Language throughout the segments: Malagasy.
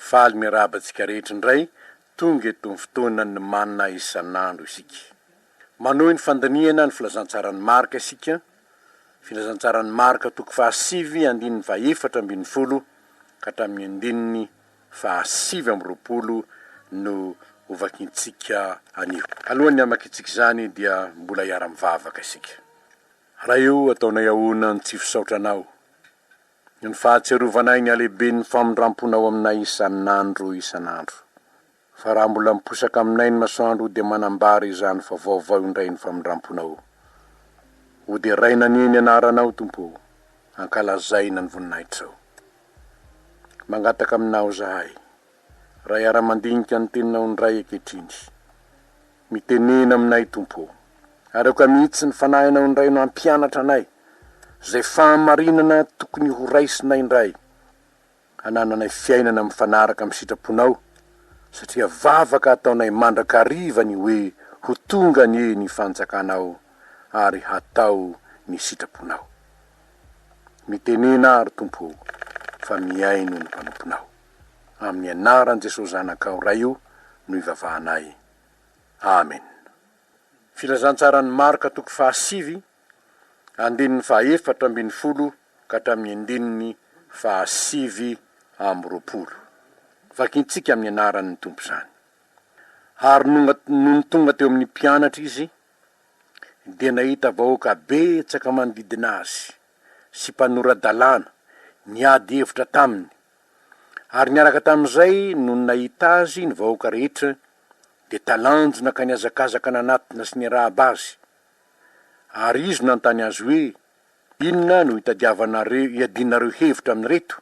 Faly miarahaba antsika rehetra indray, tonga eto amin'ny fotoanan'ny Manna isan'andro isika. Manohy ny fandinihana ny filazantsaran'i Marka isika, Filazantsaran'i Marka toko fahasivy andininy fahaefatra ambin'ny folo ka hatramin'ny andininy fahasivy amby roapolo no hovakintsika anio. Alohan'ny hamakintsika izany dia mbola hiara-mivavaka isika. Ray ô, ataonay ahoana ny tsy fisaotra Anao? Ny fahatsiarovanay ny halehiben'ny famindram-ponao aminay isan'andro isan'andro. Fa raha mbola miposaka aminay ny masoandro dia manambara izany fa vaovao indray ny famindram-ponao. Hoderaina anie ny anaranao Tompo o, ankalazaina ny voninahitrao. Mangataka aminao izahay, Raha iara-mandinika ny teninao indray ankehitriny. Mitenena aminay, Tompo ô. Areoka mihitsy ny fanahinao indray no hampianatra anay izay fahamarinana tokony horaisinay indray, hanananay fiainana mifanaraka amin'ny sitraponao, satria vavaka ataonay mandrakariva ny hoe ho tonga anie ny fanjakanao ary hatao ny sitraponao. Mitenena ary, Tompo ô, fa mihaino ny mpanomponao. Amin'ny anaran'i Jesosy Zanakao Ray o no ivavahanay. Amen. Filazantsaran'i Marka toko fahasivy, andininy fahaefatra ambin'ny folo ka hatramin'ny andininy fahasivy amby roapolo. Vakintsika amin'ny anaran'ny Tompo izany. Ary nonga nony tonga teo amin'ny mpianatra Izy, dia nahita vahoaka betsaka manodidina Azy, sy mpanora-dalàna, niady hevitra taminy, Ary niaraka tamin'izay, nony nahita azy ny vahoaka rehetra, dia talanjona ka nihazakazaka nanatona sy nirahaba azy. Ary izy nanontany azy hoe, Inona no itadiavanareo hiadianareo hevitra amin'ireto?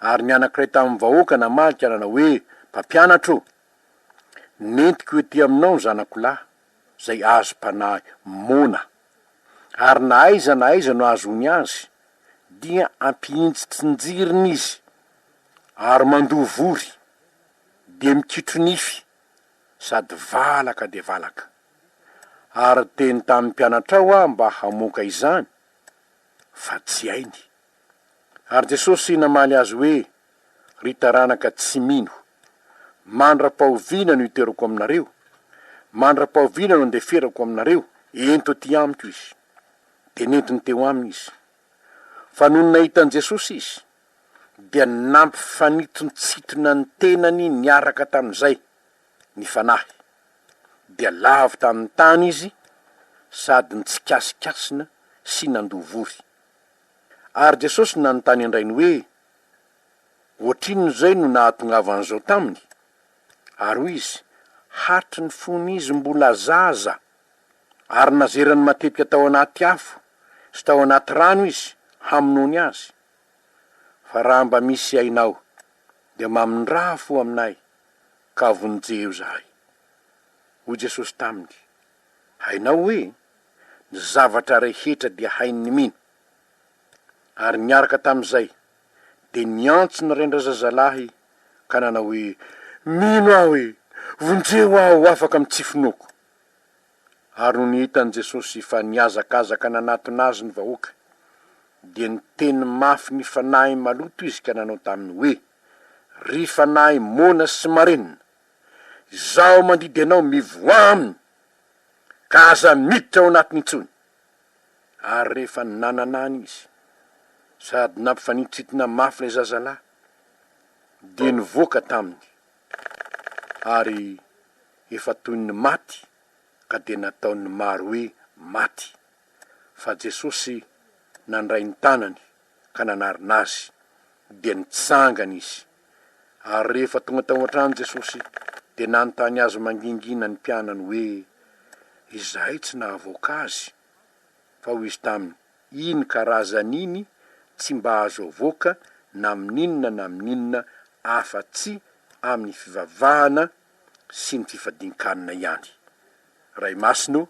Ary ny anankiray tamin'ny vahoaka namaly ka nanao hoe, Mpampianatra ô! Nentiko ety aminao ny zanako lahy, izay azom-panahy moana. ary na aiza na aiza no ahazoany azy dia ampihintsitrinjiriny izy ary mandoa vory dia mikitro nify sady valaka dia valaka. Ary teny tamin'ny mpianatrao aho mba hamoaka izany fa tsy hainy. Ary Jesosy namaly azy hoe, Ry taranaka tsy mino, mandra-pahoviana no hiterako aminareo? Mandra-pahoviana no handeferako aminareo? Ento aty amiko izy. Dia nentiny teo aminy izy. Fa nony nahita an'i Jesosy izy, dia nampifanintontsitona ny tenany niaraka tamin'izay ny fanahy. Dia lavo tamin'ny tany izy sady nitsikasikasina sy nandoa vory. Ary Jesosy nanontany an-drainy hoe, Ohatrinona izay no nahatongavan'izao taminy? Ary hoy izy, Hatry ny fon'izy mbola zaza, ary nazerany matetika tao anaty afo sy tao anaty rano izy hamonoany azy. Fa raha mba misy ainao, dia mamindrà fo aminay, ka vonjeo izahay. Hoy Jesosy taminy. Hainao hoe ny zavatra rehetra dia hain'ny mino. Ary niaraka tamin'izay, dia niantso ny rain-drazazalahy ka nanao hoe, Mino aho e! Vonjeo aho ho afaka amin'ny tsy finoako! Ary nony hitan'i Jesosy fa nihazakazaka nanatona Azy ny vahoaka, dia niteny mafy ny fanahy maloto Izy ka nanao taminy hoe, Ry fanahy moana sy marenina! Izaho mandidy anao mivoaha aminy, ka aza miditra ao anatiny intsony. Ary rehefa nanana any izy, sady nampifanintsintina mafy ilay zazalahy, dia nivoaka taminy, ary efa toy ny maty, ka dia nataon'ny maro hoe maty. Fa Jesosy nandray ny tanany ka nanarina azy, dia nitsangana izy. Ary rehefa tonga tao an-trano Jesosy, dia nanontany azy mangingina ny mpianany hoe izahay tsy nahavoaka azy. Fa hoy izy taminy, Iny karazany iny tsy mba azo avoaka na amin'inona na amin'inona afa-tsy amin'ny fivavahana sy ny fifadian-kanina ihany. Ray Masina o!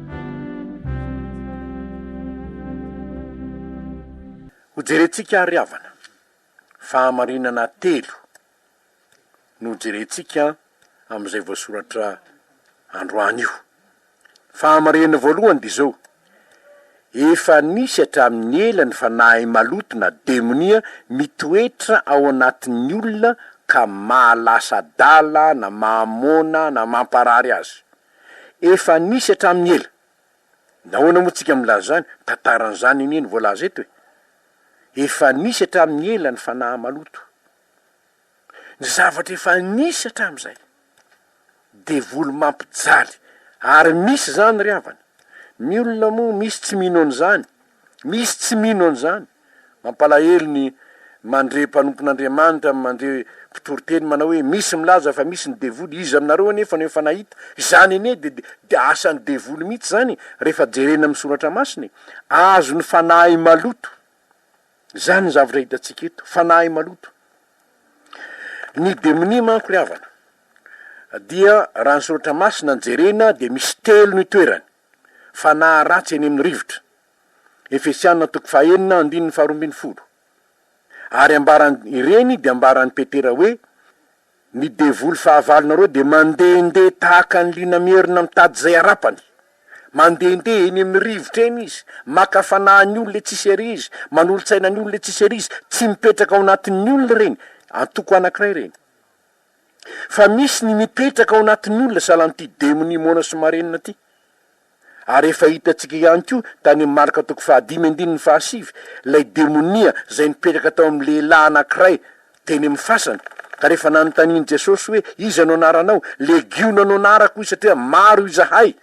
Hojerentsika àry havana, fahamarinana telo no hojerentsika amin'izay voasoratra androany io. Fahamarinana voalohany dia izao, efa nisy hatramin'ny ela ny fanahy maloto na demonia mitoetra ao anatin'ny olona ka mahalasa adala na mahamoana na mamparary azy. Efa nisy hatramin'ny ela. Nahoana moa tsika milaza izany? Tantara an'izany anie no voalaza eto e! Efa nisy hatramin'ny ela ny fanahy maloto. Ny zavatra efa nisy hatramin'izay. Devoly mampijaly. Ary misy izany ry havana. Ny olona moa misy tsy mino an'izany. Misy tsy mino an'izany. Mampalahelo ny mandre mpanompon'Andriamanitra, mandre mpitory teny manao hoe misy milaza fa misy ny devoly, iza aminareo anefa no efa nahita? Izany anie dia dia asan'ny devoly mihitsy izany rehefa jerena amin'ny soratra masina e! Azon'ny fanahy maloto izany ny zavatra hitantsika eto, fanahy maloto. Ny demonia manko ry havana dia raha ny soratra masina no jerena dia misy telo no itoerany, Fanahy ratsy eny amin'ny rivotra. Efesiana toko fahenina andininy faharoa ambin'ny folo. Ary ambaran, ireny dia ambaran'i Petera hoe, Ny devoly fahavalonareo dia mandehandeha tahaka ny liona mierona mitady izay harapany. Mandehandeha eny amin'ny rivotra eny izy, maka fanahin'ny olona etsy sy ery izy, manolo-tsaina ny olona etsy sy ery izy, tsy mipetraka ao anatin'ny olona ireny, antoko anankiray ireny. fa misy ny mipetraka ao anatin'olona salan'ity demonia moana sy marenina ity. Ary efa hitantsika ihany koa tany amin'ny Marka toko fahadimy andininy fahasivy ilay demonia izay nipetraka tao amin'ny lehilahy anankiray teny amin'ny fasana, ka rehefa nanontanian'i Jesosy hoe iza no anaranao? Legiona no anarako hoy izy satria maro izahay.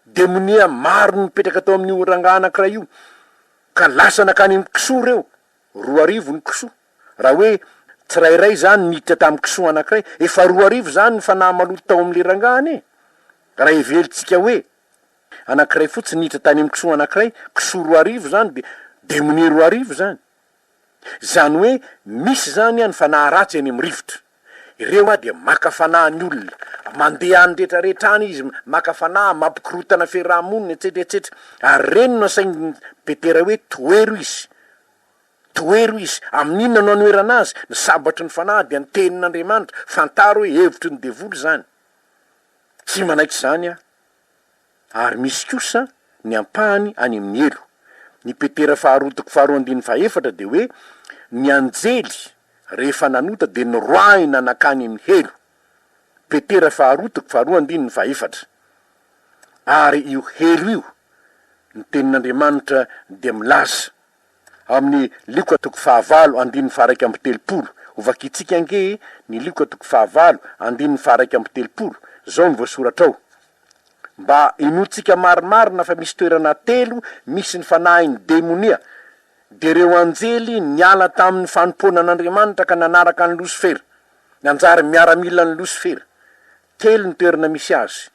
Demonia maro no nipetraka tao amin'io rangahy anankiray io ka lasa nankany amin'ny kisoa ireo. Roa arivo ny kisoa. Raha hoe tsirairay izany niditra tamin'ny kisoa anankiray, efa roa arivo izany ny fanahy maloto tao amin'ilay rangahy anie. Raha heverintsika hoe anankiray fotsiny niditra tany amin'ny kisoa anankiray, kisoa roa arivo izany dia demonia roa arivo izany. Izany hoe misy izany ny fanahy ratsy any amin'ny rivotra. Ireo a dia maka fanahy ny olona, mandeha any rehetra rehetra any izy, maka fanahy, mampikorotana fiaraha-monina etsetra etsetra, ary ireny no asain'i Petera hoe tohero izy, tohero izy, amin'inona no anoherana azy? ny sabatry ny fanahy dia ny tenin'Andriamanitra, fantaro hoe hevitry ny devoly izany, tsy manaiky izany aho. ary misy kosa ny ampahany any amin'ny helo. Ny Petera faharoa toko faharoa andininy fahaefatra dia hoe, Ny anjely rehefa nanota dia noroahina nankany amin'ny helo. Petera faharoa toko faharoa andininy fahaefatra. Ary io helo io, ny Tenin'Andriamanitra dia milaza Amin'ny Lioka toko fahavalo andininy faharaika amby telopolo, hovakintsika ange e, ny Lioka toko fahavalo andininy faharaika amby telopolo, izao no voasoratra ao, Mba hinoantsika marimarina fa misy toerana telo misy ny fanahin'ny demonia, dia ireo anjely niala tamin'ny fanompoana an'Andriamanitra ka nanaraka an'i Losifera, nanjary miaramilan'i Losifera. Telo ny toerana misy azy.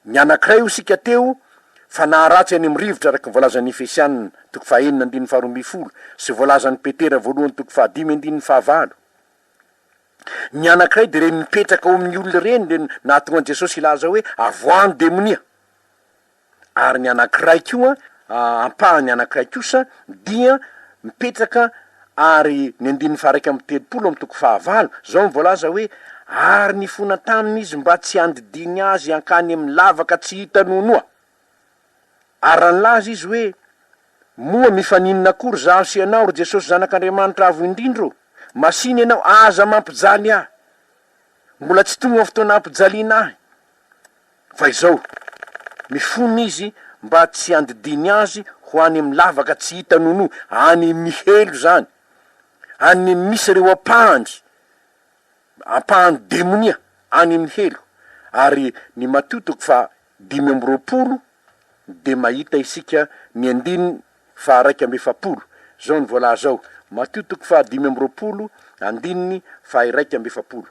Ny anankiray hoy isika teo fa naharatsy any amin'ny rivotra araka ny voalazan'ny Efesianina, toko fahenina andininy faharoa ambin'ny folo, sy voalazan'i Petera voalohany toko fahadimy andininy fahavalo. Ny anankiray dia ireny mipetraka ao amin'ny olona ireny dia nahatonga an'i Jesosy hilaza hoe avoahan'ny demonia. ary ny anankiray koa, ampahany anankiray kosa dia mipetraka ary ny andininy faha-iraika amby telopolo amin'ny toko fahavalo, zao no voalaza hoe, Ary nifona taminy izy mba tsy handidiany azy hankany amin'ny lavaka tsy hita noanoa. Ary raha nilaza izy hoe, Moa mifaninona akory izaho sy ianao, ry Jesosy Zanak'Andriamanitra Avo Indrindra ô? Masìna ianao, aza mampijaly ahy. Mbola tsy tonga ny fotoana hampijaliana ahy. Fa izao, mifona izy mba tsy handidiany azy ho any amin'ny lavaka tsy hita nono any mihelo izany, any misy ireo ampahany, ampahany demonia any mihelo, ary ny Matio toko faha dimy amby roapolo dia mahita isika ny andininy faha iraika amby efapolo. Izao no voalaza ao, Matio toko faha dimy amby roapolo, andininy faha iraika amby efapolo,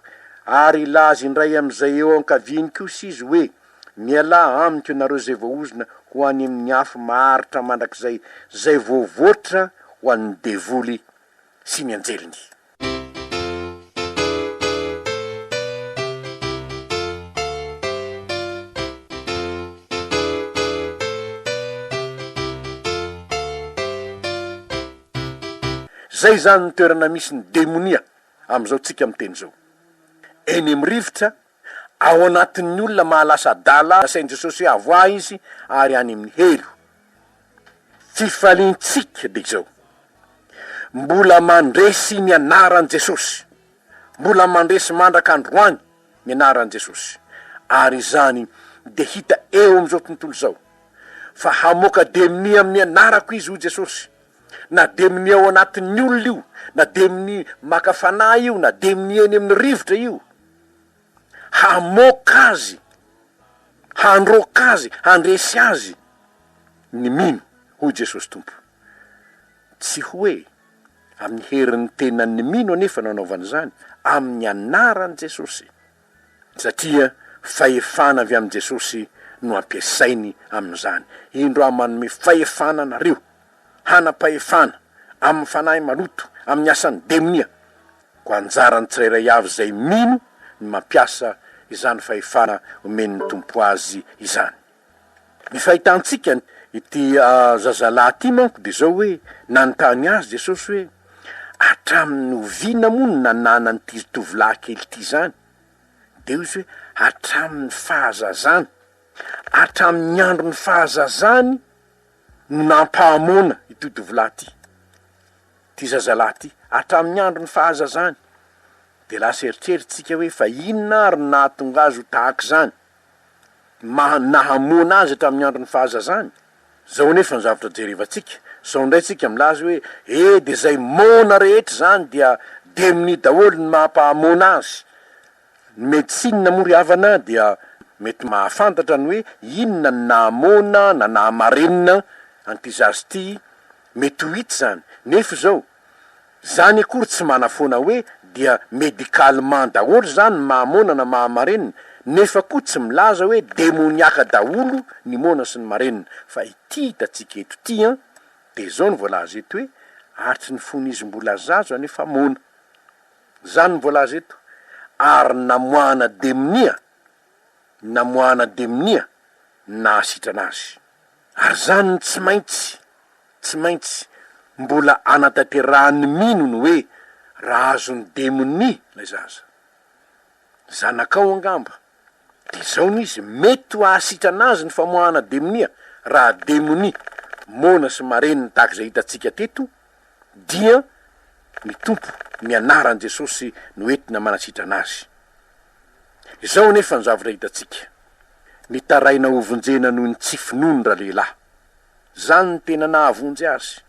Ary hilaza indray amin'izay eo ankaviany kosa izy hoe, Mialà amiko ianareo izay voaozona ho any amin'ny afo maharitra mandrakizay, izay voavoatra ho an'ny devoly sy ny anjeliny. Izay izany ny toerana misy ny demonia amin'izao tsika miteny izao. Eny amin'ny rivotra Ao anatin'ny olona mahalasa adala nasain'i Jesosy hoe avoahy izy ary any amin'ny helo. Fifaliantsika dia izao, mbola mandresy ny anaran'i Jesosy, mbola mandresy mandraka androany ny anaran'i Jesosy, ary izany dia hita eo amin'izao tontolo izao, fa hamoaka demony amin'ny anarako izy, hoy Jesosy, na demony ao anatin'ny olona io, na demony maka fanahy io, na demony eny amin'ny rivotra io. hamoaka azy, handroaka azy, handresy azy ny mino, hoy Jesosy Tompo. Tsy hoe amin'ny herin'ny tenan'ny mino anefa no anaovany izany, amin'ny anaran'i Jesosy, satria fahefana avy amin'i Jesosy no ampiasainy amin'izany. Indro aho manome fahefana anareo, hanam-pahefana amin'ny fanahy maloto, amin'ny asan'ny demonia, Koa anjaran'ny tsirairay avy izay mino ny mampiasa izany fahefana omen'ny Tompo azy izany. Ny fahitantsika ity zazalahy ity manko dia izao hoe, nanontany azy Jesosy hoe, Hatramin'ny oviana moa no nananan'ity tovolahy kely ity izany? Dia hoy izy hoe, Hatramin'ny fahazazany. Hatramin'ny andron'ny fahazazany no nampahamoana ity tovolahy ity. Ty zazalahy ity, hatramin'ny andron'ny fahazazany dia lasa eritreritsika hoe fa inona ary no nahatonga azy ho tahaka izany? Ny maha nahamoana azy hatramin'ny andron'ny fahazazany? Zao anefa ny zavatra jerevantsika, sao indray tsika milaza hoe e dia zay moana rehetra izany dia demony daholo ny maha mpahamoana azy? Ny medecine moa ry havana dia mety mahafantatra ny hoe inona no nahamoana na nahamarenina an'ity zaza ity Mety ho hita izany. Nefa izao, izany akory tsy manafoana hoe dia médicalement daholo izany ny mahamoana na mahamarenina, nefa koa tsy milaza hoe demoniaka daholo ny moana sy ny marenina, fa ity hitantsika eto ity an, dia izao no voalaza eto hoe hatry ny fony izy mbola zaza anefa moana. Izany no voalaza eto. Ary namoahana demonia, namoahana demonia ny nahasitrana azy. Ary izany no tsy maintsy, tsy maintsy, mbola anatanterahan'ny mino ny hoe raha azon'ny demonia ilay zaza. Zanakao angamba. Dia izao no izy, mety ho ahasitrana azy ny famoahana demonia, raha demonia, moana sy marenina tahaka izay hitantsika teto, dia ny Tompo, ny anaran'i Jesosy no entina manasitrana azy. Izao anefa ny zavatra hitantsika, mitaraina hovonjena noho ny tsy finoany ralehilahy. Izany no tena nahavonjy azy.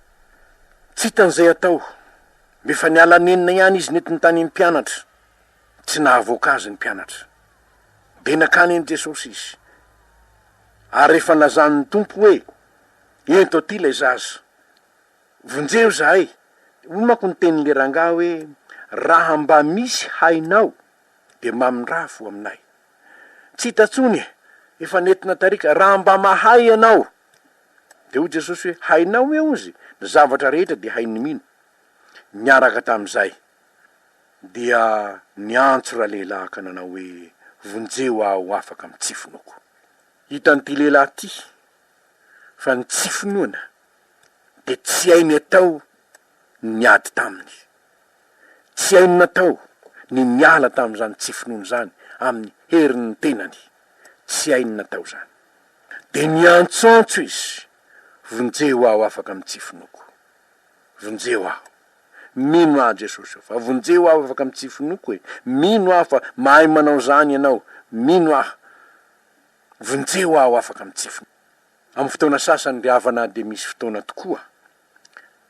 Tsy hitany izay hatao. Efa niala nenina ihany izy nety nitania ny mpianatra. Tsy nahavoaka azy ny mpianatra. Dia nankany an'i Jesosy izy. Ary efa nilazany ny Tompo hoe, Ento aty ilay zaza. Vonjeo zahay! Hoy manko ny tenin'le rangahy hoe, raha mba misy hainao de mamindrafo aminay. Tsy hita tsony e! Efa nentina tary ka! Raha mba mahay ianao! Dia hoy Jesosy hoe, hainao ve ozy ny zavatra rehetra dia hain'ny mino? Niaraka tamin'izay dia niantso ralehilahy ka nanao hoe, vonjeo aho ho afaka amin'ny tsy finoako. Hitan'ity lehilahy ity fa ny tsy finoana dia tsy hainy atao ny niady taminy. Tsy hainy natao ny niala tamin'izany tsy finoany izany amin'ny herin'ny tenany. Tsy hainy natao izany. Dia niantsoantso izy, Vonjeo aho afaka amin'ny tsy finoako. Vonjeo aho. Mino aho Jesosy o, fa vonjeo aho afaka amin'ny tsy finoako e. Mino aho fa mahay manao izany Ianao. Mino aho. Vonjeo aho afaka amin'ny tsy finoako. Amin'ny fotoana sasany ry havana dia misy fotoana tokoa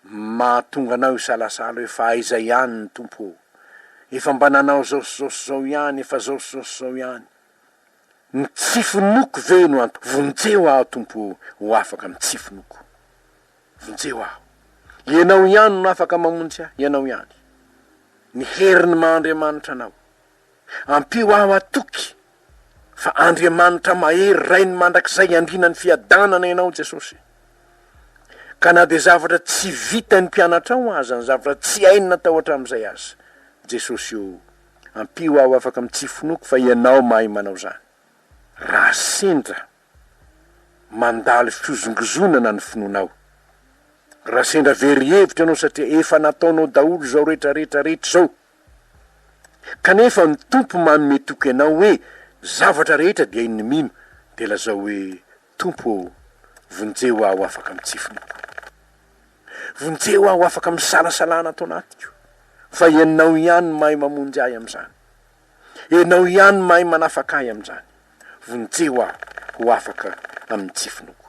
mahatonga anao hisalasala hoe fa aiza ihany ny Tompo ô? Efa mba nanao izao sy izao sy izao ihany, efa izao sy izao sy izao ihany. Ny tsy finoako ve no antony? Vonjeo aho Tompo ô, ho afaka amin'ny tsy finoako. Vonjeo aho. Ianao ihany no afaka mamonjy ahy, Ianao ihany. Ny herin'ny maha Andriamanitra anao. Ampio aho hatoky fa Andriamanitra mahery Rainy mandrakizay Andrinan'ny fiadanana ianao Jesosy. Ka na dia zavatra tsy vitan'ny mpianatrao aza ny zavatra tsy hainy natao hatramin'izay aza Jesosy o, ampio aho afaka mitsifonoko fa ianao mahay manao izany. Raha sendra mandalo fihozongozonana ny finoanao, raha sendra very hevitra ianao satria efa nataonao daholo izao rehetra rehetra rehetra izao, Kanefa ny Tompo manome toky anao hoe zavatra rehetra dia iny mino dia lazao hoe Tompo ô vonjeo aho afaka amin'ny tsy finoako. Vonjeo aho afaka amin'ny salasalana ato anatiko fa ianao ihany no mahay mamonjy ahy amin'izany. Ianao ihany no mahay manafaka ahy amin'izany. Vonjeo aho ho afaka amin'ny tsy finoako.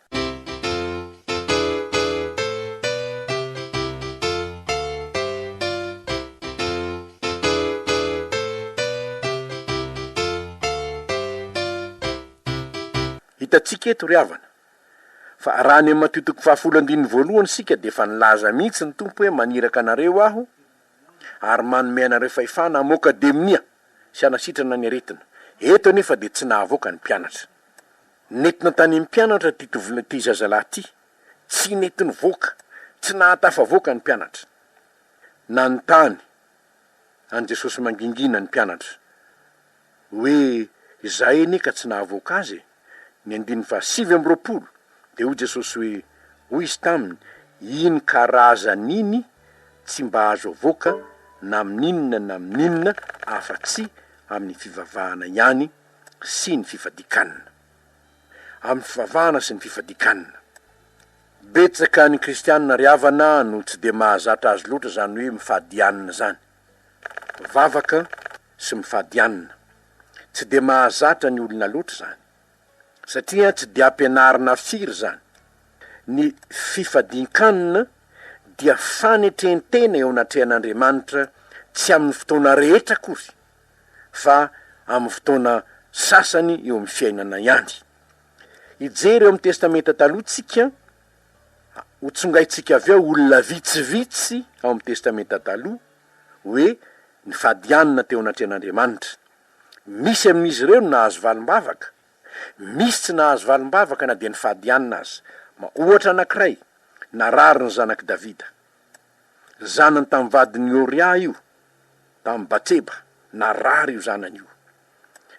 Hitantsika eto, ry havana, fa raha any amin'ny Matio toko fahafolo andininy voalohany isika dia efa nilaza mihitsy ny Tompo hoe maniraka anareo Aho ary manome anareo fahefana hamoaka demonia sy hanasitrana ny aretina. Eto anefa dia tsy nahavoaka ny mpianatra. Nety nanontanian'ny mpianatra ity tovolahy ity zazalahy ity. Tsy nety nivoaka, tsy nahatafavoaka ny mpianatra. Nanontany an'i Jesosy mangingina ny mpianatra hoe, Izahay anie ka tsy nahavoaka azy e! Ny andininy fahasivy amby roapolo, dia hoy Jesosy hoe, Hoy izy taminy, Iny karazany iny tsy mba azo avoaka na amin'inona na amin'inona afa-tsy amin'ny fivavahana ihany. sy ny fifadikanana. Amin'ny fivavahana sy ny fifadikanana. Betsaka ny kristianina ry havana no tsy dia mahazatra azy loatra izany hoe mifadianana izany. Mivavaka sy mifadianana. Tsy dia mahazatra ny olona loatra izany. Satria tsy dia ampianarina firy izany. Ny fifadiankanana dia fanetrentena eo anatrehan'Andriamanitra tsy amin'ny fotoana rehetra akory. fa amin'ny fotoana sasany eo amin'ny fiainana ihany. Hijery eo amin'ny Testamenta Taloha isika, ho tsongaintsika avy ao olona vitsivitsy ao amin'ny Testamenta Taloha hoe nifadianina teo anatrehan'Andriamanitra. Misy amin'izy ireo no nahazo valim-bavaka, misy tsy nahazo valim-bavaka na dia nifadianina aza. Ohatra anankiray, narary ny zanak'i Davida. Zanany tamin'ny vadin'i Oria io, tamin'i Batseba, narary io zanany io.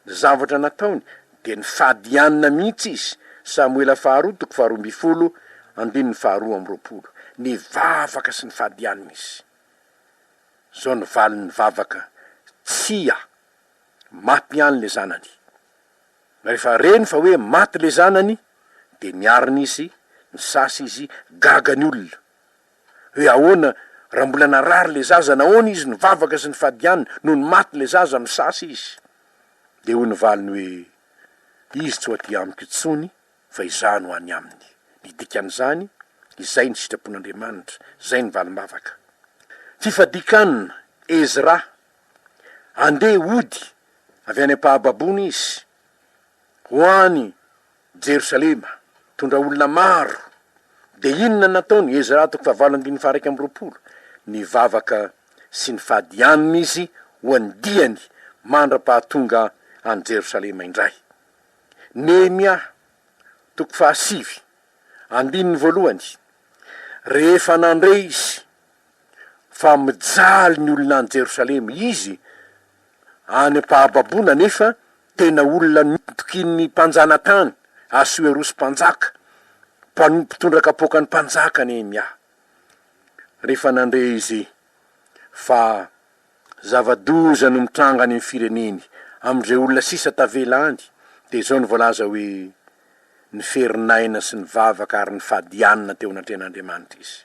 Ny zavatra nataony dia nifadianina mihitsy izy, Samoela faharoa toko faharoa ambin'ny folo, andininy faharoa amby roapolo. Nivavaka sy nifadianina izy. Izao ny valin'ny vavaka, Tsia! Maty ihany ilay zanany. Rehefa reny fa hoe maty ilay zanany, dia niarina izy, nisasa izy, gaga ny olona. Hoe ahoana raha mbola narary ilay zaza nahoana izy nivavaka sy nifady ihany nony maty ilay zaza misasa izy dia hoy ny valiny hoe izy tsy ho aty amiko intsony fa izaho no any aminy ny dikan'izany izay ny sitrapon'Andriamanitra izay ny valim-bavaka fifadikanina Ezra andeha hody avy any am-pahababoana izy ho any Jerosalema, tondra olona maro. Dia inona no nataon'i Ezra, toko fahavalo andininy faha-iraika amby roapolo? Nivavaka sy nifady hianina izy ho an'ny diany mandra-pahatonga any Jerosalema indray. Nehemia, toko fahasivy, andininy voalohany, Rehefa nandre izy fa mijaly ny olona any Jerosalema, izy Any am-pahababoana anefa, tena olona nitokian'ny mpanjanatany, Asoerosy Mpanjaka, mpano- mpitondra kapoakan'ny mpanjaka Nehemia. Rehefa nandre izy fa zava-doza no mitranga any amin'ny fireneny, amin'izay olona sisa tavela any, dia izao no voalaza hoe, ny ferin'aina sy ny vavaka ary ny fadianina teo anatrehan'Andriamanitra izy.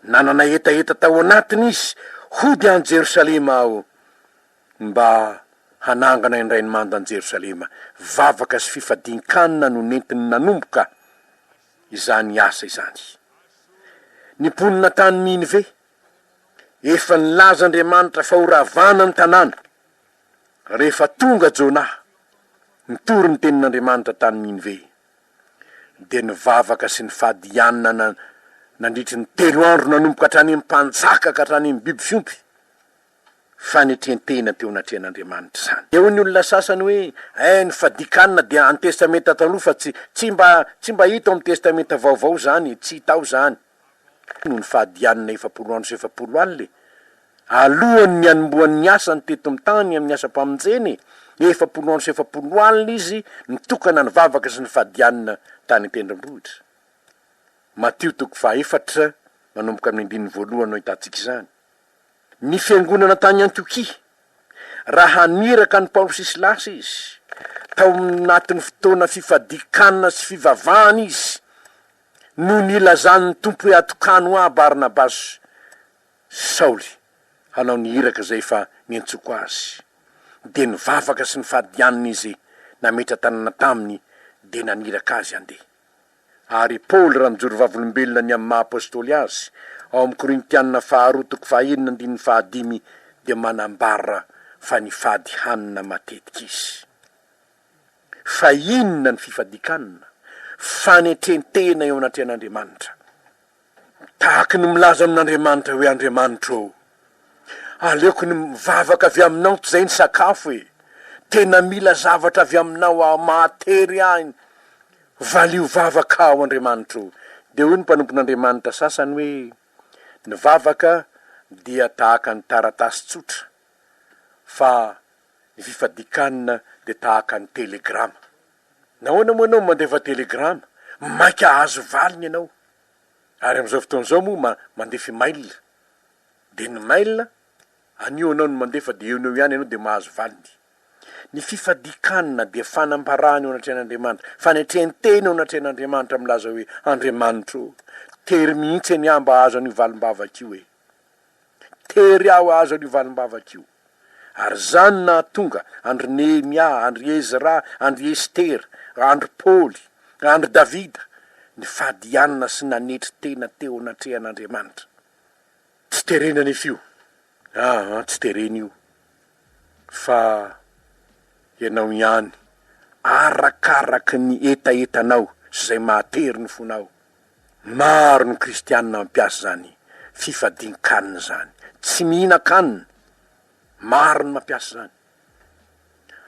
Nanana hetaheta tao anatiny izy hody any Jerosalema aho mba hanangana indray ny manda an'i Jerosalema. Vavaka sy fifadian-kanina no nentiny nanomboka izany asa izany. Ny mponina tany Ninive, Efa nilaza Andriamanitra fa horavana ny tanàna. Rehefa tonga Jona, nitory ny tenin'Andriamanitra tany Ninive, dia nivavaka sy nifady hianana nandritry ny telo andro nanomboka hatrany amin'ny mpanjaka ka hatrany amin'ny biby fiompy. Fanetrentena teo anatrehan'Andriamanitra izany. Eo ny olona sasany hoe, Eh, ny fadian-kanina dia an'ny Testamenta Taloha fa tsy, tsy mba, tsy mba hita ao amin'ny Testamenta Vaovao izany e, tsy hita ao izany. noho ny fahadianana efapolo andro sy efapolo alina e! Alohan' ny hanombohan' ny asany teto amin'ny tany amin' ny asam-pamonjeny, efapolo andro sy efapolo alina izy nitokana nivavaka sy nifadianana tany an-tendrombohitra. Matio toko fahaefatra manomboka amin' ny andininy voalohany no ahitantsika izany. Ny fiangonana tany Antiokia, Raha niraka an'i Paoly sy Silasy izy, tao anatin'ny fotoana fifadian-kanina sy fivavahana izy, no nilazan' ny Tompo hoe atokano Ahy Barnabasy sy Saoly hanao ny iraka izay efa niantsoko azy. Dia nivavaka sy nifadianina izy nametra-tanana taminy dia naniraka azy handeha. Ary i Paoly raha mijoro vavolombelona ny amin'ny maha-Apôstôly azy ao amin'ny Korintiana faharoa toko fahaenina andininy fahadimy dia manambara fa nifady hanina matetika izy. Fa inona ny fifadikanana? Fanetrentena eo anatrehan'Andriamanitra. Tahaky ny milaza amin'Andriamanitra hoe Andriamanitro ô, aleoko ny mivavaka avy aminao tizay ny sakafo e, tena mila zavatra avy aminao aho, mahatery ahy, valio vavaka aho Andriamanitro. Dia hoy ny mpanompon'Andriamanitra sasany hoe, Ny vavaka dia tahaka ny taratasy tsotra. fa ny fifadikanina dia tahaka ny telegrama. Nahoana moa ianao mandefa telegrama? Mainka hahazo valiny ianao. Ary amin'izao fotoana izao moa ma, mandefa email. Dia ny mail, anio ianao no mandefa dia eo no eo ihany ianao dia mahazo valiny. Ny fifadikanina dia fanambarana eo anatrehan'Andriamanitra, fanetrentena eo anatrehan'Andriamanitra milaza hoe, Andriamanitro, tery mihitsy anie aho mba hahazo an'io valim-bavaka io ee. Tery aho hahazo an'io valimbavaka io. Ary izany nahatonga an-dry Nehemia, an-dry Ezra, an-dry Estera, an-dry Paoly, an-dry Davida nifadianana sy nanetry tena teo anatrehan'Andriamanitra. Tsy terena anefa io. Aa, tsy terena io. Fa ianao ihany, arakaraky ny hetahetanao sy izay mahatery ny fonao. Maro ny kristianina mampiasa izany fifadian-kanina izany. Tsy mihinan-kanina. Maro ny mampiasa izany.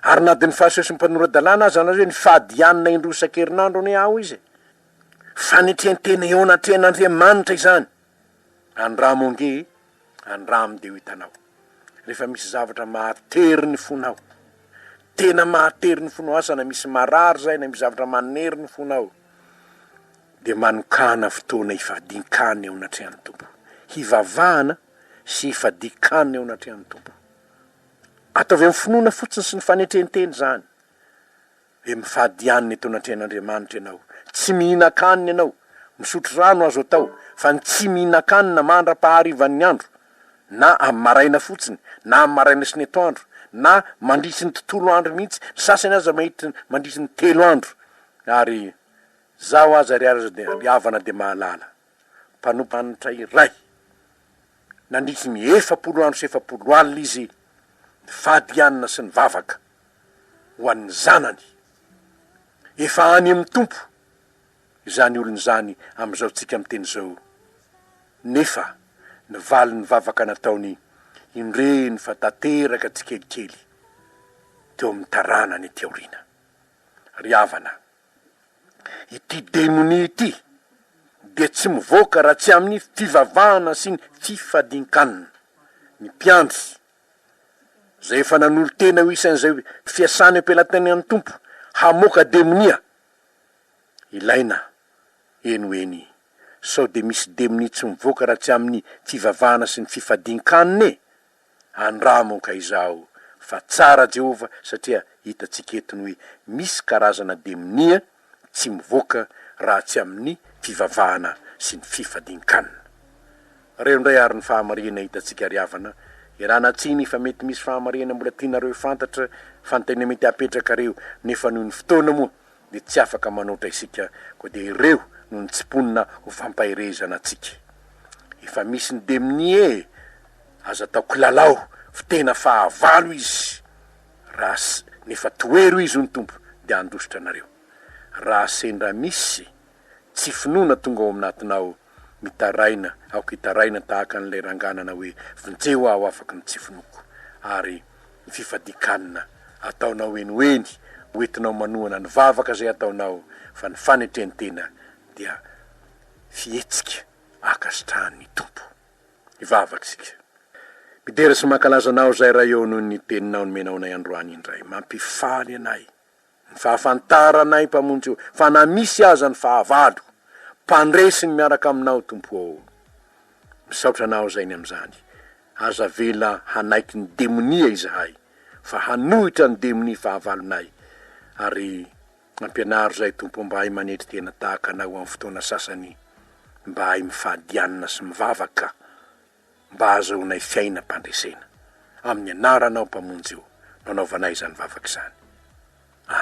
Ary na dia ny fahasosoan'ny mpanora-dalàna aza izany hoe mifady hanina indroa isan-kerinandro anie aho izy e! Fanetrentena eo anatrehan'Andriamanitra izany. Andramo ange e! Andramo dia ho hitanao. Rehefa misy zavatra mahatery ny fonao, tena mahatery ny fonao asa na misy marary izay na misy zavatra manery ny fonao, dia manokàna fotoana hifadian-kany eo anatrehan'ny Tompo. Hivavahana sy hifadian-kany eo anatrehan'ny Tompo. Ataovy amin'ny finoana fotsiny sy ny fanetren-tena izany. Dia mifady hanina eto anatrehan'Andriamanitra ianao. Tsy mihinan-kanina ianao. Misotro rano azo atao, fa ny tsy mihinan-kanina mandra-paharivan'ny andro, na amin'ny maraina fotsiny, na amin'ny maraina sy ny atoandro, na mandritry ny tontolo andro mihitsy, ny sasany aza mahitry, mandritry ny telo andro. Ary Izaho aza ry Havana dia mahalala. mpanompanitra iray. Nandritry ny efapolo andro sy efapolo alina izy nifady hanina sy nivavaka ho an'ny zanany. Efa any amin'ny Tompo izany olona izany amin'izao tsika miteny izao, nefa ny valin'ny vavaka nataony indreny fa tanteraka tsikelikely teo amin'ny taranany aty aoriana. Ry havana! Ity demonia ity dia tsy mivoaka raha tsy amin'ny fivavahana sy ny fifadin-kanina. Ny mpiandry, izay efa nanolo-tena ho isan'izay fiasany am-pelatanan'ny Tompo hamoaka demonia, ilaina eny ho eny. Sao dia misy demonia tsy mivoaka raha tsy amin'ny fivavahana sy ny fifadin-kanina e? Andramo moka izaho fa tsara Jehovah satria hitantsika eto ny hoe misy karazana demonia tsy mivoaka raha tsy amin'ny fivavahana sy ny fifadian-kanina. Reo indray ary ny fahamarihana hitantsika ry havana, ialana tsiny fa mety misy fahamarihana mbola tianareo fantatra fa ny tena mety hapetrakareo nefa noho ny fotoana moa dia tsy afaka manoatra isika koa dia ireo no nitsiponina ho fampaherezana antsika. Efa misy ny demni e! Aza atao kilalao fa tena fahavalo izy raha sy nefa toero izy hoy ny Tompo dia handositra anareo. Raha sendra misy. Tsy finoana tonga ao amnatinao mitaraina aoka hitaraina tahaka an'ilay rangah nanao hoe vonjeo aho afaky ny tsy finoako ary ny fifadikanna ataonao henoheny hoentinao manohana ny vavaka izay ataonao fa ny fanetrentena dia fihetsika ankasitrahan'ny Tompo ny vavaka isika midera sy mankalaza anao izay Ray ô noho ny teninao nomenao anay androany indray mampifaly anay Ny fahafantaranay Mpamonjy ô, fa na misy aza ny fahavalo, mpandresy ny miaraka aminao Tompo ô. Misaotra anao Zainy amin'izany. Aza avela hanaiky ny demonia izahay, fa hanohitra ny demonia fahavalonay, ary ampianaro izay Tompo mba hahay manetry tena tahaka anao amin'ny fotoana sasany, mba hahay mifadianina sy mivavaka mba hahazoanay fiainam-pandresena. Amin'ny anaranao Mpamonjy o no anaovanay izany vavaka izany. Amena.